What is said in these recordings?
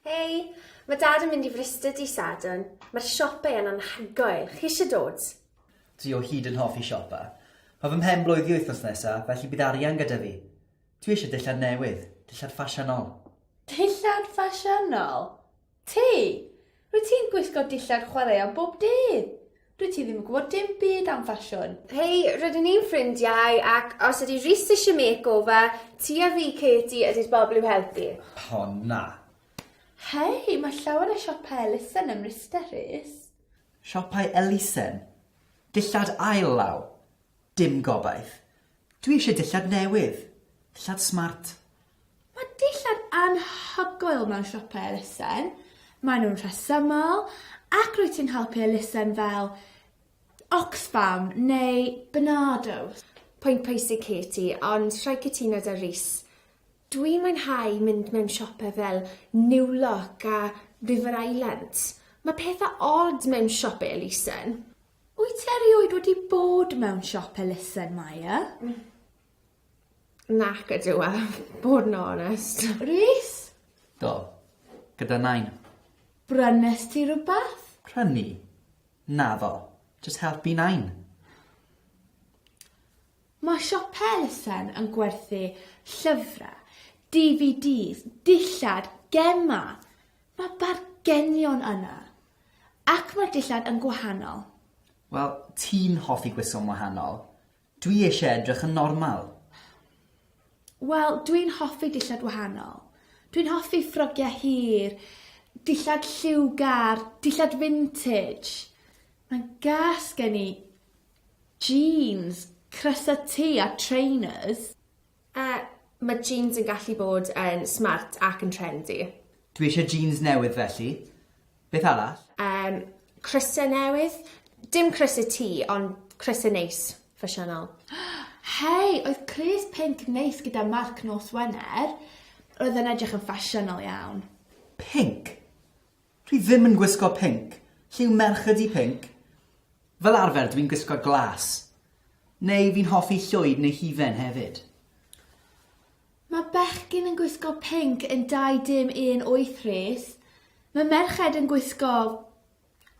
Hei, mae dad yn mynd i Fryste di Sadwrn. Mae'r siopau yn anhygoel. Chi eisiau dod? Dwi o hyd yn hoffi siopa. Mae fy mhen blwyddi wythnos nesa, felly bydd arian gyda fi. Dwi eisiau dillad newydd, dillad ffasiynol. Dillad ffasiynol? Ti! Rwyt ti'n gwisgo dillad chwaraeon bob dydd! Dwyt ti ddim yn gwybod dim byd am ffasiwn! Hei, rydyn ni'n ffrindiau, ac os ydy Rhys eisiau makeover, ti a fi, Katie, ydy'r bobl i'w helpu. O, na! Hei, mae llawer o siopau elusen ym Mryste, Rhys. Siopau elusen? Dillad ail law? Dim gobaith! Dwi eisiau dillad newydd, dillad smart, Mae dillad anhygoel mewn siopau elusen, maen nhw'n rhesymol ac rwyt ti'n helpu elusen fel Oxfam neu Barnardo's. Pwynt pwysig Katie, ond rhaid cytuno 'da Rhys. Dwi'n mwynhau mynd mewn siopau fel New Look a River Island. Mae pethau od mewn siopau elusen. Wyt ti erioed wedi bod mewn siop elusen, Maya? Nac ydyw e, bod yn onest. Rhys? Do. Gyda nain. Brynest ti rhywbeth? Prynu? Naddo. Jyst helpu nain. Mae siop elusen yn gwerthu llyfrau, DVDs, dillad, gemau. Mae bargenion yna. Ac mae'r dillad yn gwahanol. Wel, ti'n hoffi gwisgo'n wahanol. Dwi eisiau edrych yn normal. Wel, dwi'n hoffi dillad wahanol. Dwi'n hoffi ffrogiau hir, dillad lliwgar, dillad vintage. Mae'n gas gen i jeans, crysau T a trainers. Yy, mae jîns yn gallu bod yn smart ac yn trendy. Dwi eisiau jîns newydd felly. Beth arall? Yym, crysau newydd. Dim crysau ti, ond crysau neis, ffasiynol. Hei, oedd crys pinc neis gyda marc nos Wener. Roedd e'n edrych yn ffasiynol iawn. Pinc? Dwi ddim yn gwisgo pinc. Lliw merch ydi pinc. Fel arfer dwi'n gwisgo glas. Neu fi'n hoffi llwyd neu hufen hefyd. Mae bechgyn yn gwisgo pinc yn 2DIM18 Rhys. Mae merched yn gwisgo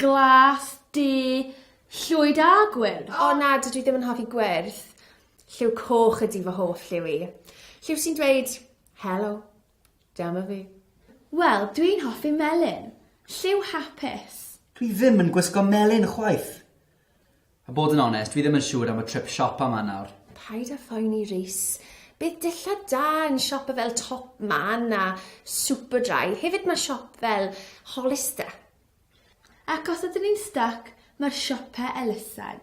glas, du, llwyd a gwyrdd. O na, dydw i ddim yn hoffi gwyrdd. Lliw coch ydi fy hoff lliw i. Lliw sy'n dweud 'Helo'. Dyma fi. Wel, dwi'n hoffi melyn. Lliw hapus. Dwi ddim yn gwisgo melyn chwaith. A bod yn onest, fi ddim yn siŵr am y trip siopa 'ma nawr. Paid â phoeni Rhys. Bydd dillad da yn siopa fel Top Man a Superdry. Hefyd mae siop fel Hollister. Ac os ydyn ni'n styc, mae'r siopa elusen.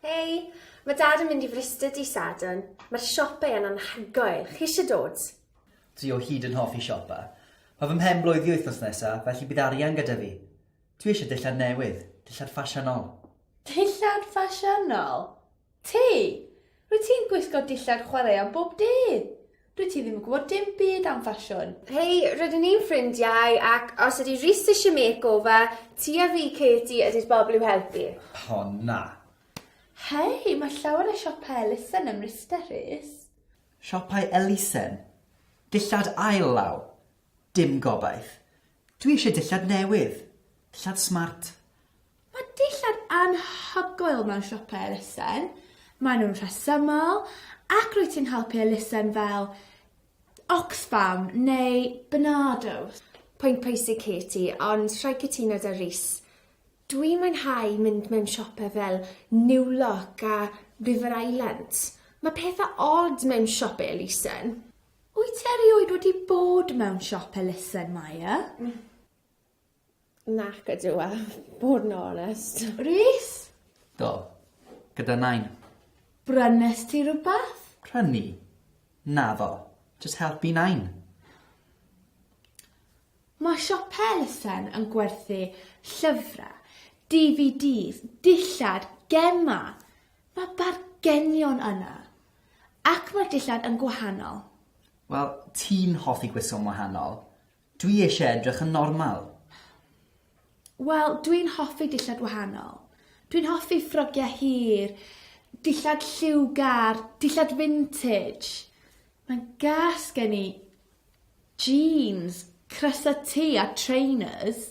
Hei, mae Dad yn mynd i Fryste dydd Sadwrn. Mae'r siope yn anhygoel. Chi eisiau dod? Dwi o hyd yn hoffi siopa. Mae fy mhen blwydd i wythnos nesa, felly bydd arian gyda fi. Dwi eisiau dillad newydd, dillad ffasiynol. Dillad ffasiynol? Ti! Rwyt ti'n gwisgo dillad chwaraeon bob dydd! Dwyt ti ddim yn gwybod dim byd am ffasiwn! Hei, rydyn ni'n ffrindiau, ac os ydy Rhys eisiau makeover, ti a fi, Katie, ydy'r bobl i'w helpu. O, na! Hei, mae llawer o siopau elusen ym Mryste, Rhys. Siopau elusen? Dillad ail law? Dim gobaith. Dwi eisiau dillad newydd. Dillad smart. Mae dillad anhygoel mewn siopau elusen. Maen nhw'n rhesymol ac rwyt ti'n helpu elusen fel Oxfam neu Barnardo's. Pwynt pwysig Katie, ond rhaid cytuno 'da Rhys. Dwi'n mwynhau mynd mewn siopau fel New Look a River Islands. Mae pethau od mewn siopau elusen. Wyt ti erioed wedi bod mewn siop elusen, Maya? Nac ydw a bod yn onest. Rhys? Do. Gyda Nain. Brynest ti rhywbeth? Prynu? Naddo. Jyst helpu Nain. Mae siopau elusen yn gwerthu llyfrau, DVDs, dillad, gemau. Mae bargenion yna. Ac mae'r dillad yn gwahanol. Wel, ti'n hoffi gwisgo'n wahanol. Dwi eisiau edrych yn normal. Wel, dwi'n hoffi dillad wahanol. Dwi'n hoffi ffrogiau hir, dillad lliwgar, dillad vintage. Mae'n gas gen i jeans, crysau T a trainers.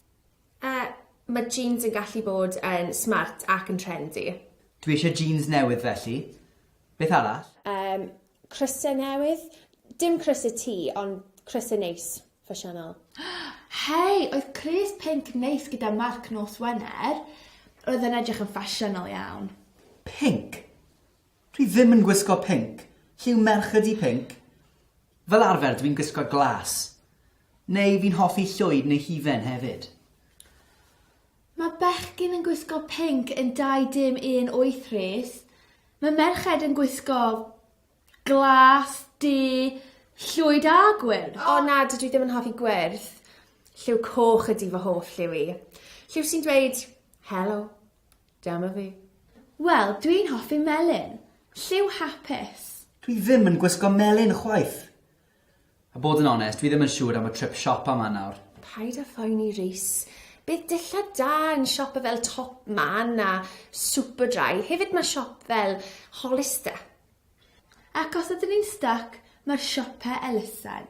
Yy, mae jîns yn gallu bod yn smart ac yn trendy. Dwi eisiau jîns newydd felly. Beth arall? Yym, crysau newydd. Dim crysau ti, ond crysau neis, ffasiynol. Hei, oedd crys pinc neis gyda marc nos Wener. Roedd e'n edrych yn ffasiynol iawn. Pinc? Dwi ddim yn gwisgo pinc. Lle yw merched i pinc? Fel arfer dwi'n gwisgo glas. Neu fi'n hoffi llwyd neu hufen hefyd. Mae bechgyn yn gwisgo pinc yn 2DIM18 Rhys, mae merched yn gwisgo glas, du, llwyd a gwyrdd. O na, dydw i ddim yn hoffi gwyrdd. Lliw coch ydi fy hoff lliw i. Lliw sy'n dweud, Helo, dyma fi. Wel, dwi'n hoffi melyn. Lliw hapus. Dwi ddim yn gwisgo melyn chwaith. A bod yn onest, fi ddim yn siŵr am y trip siop a 'ma nawr. Paid â phoeni Rhys. Bydd dillad da yn siope fel Top Man a Superdry, hefyd mae siop fel Hollister. Ac os ydyn ni'n styc, mae'r siope elusen.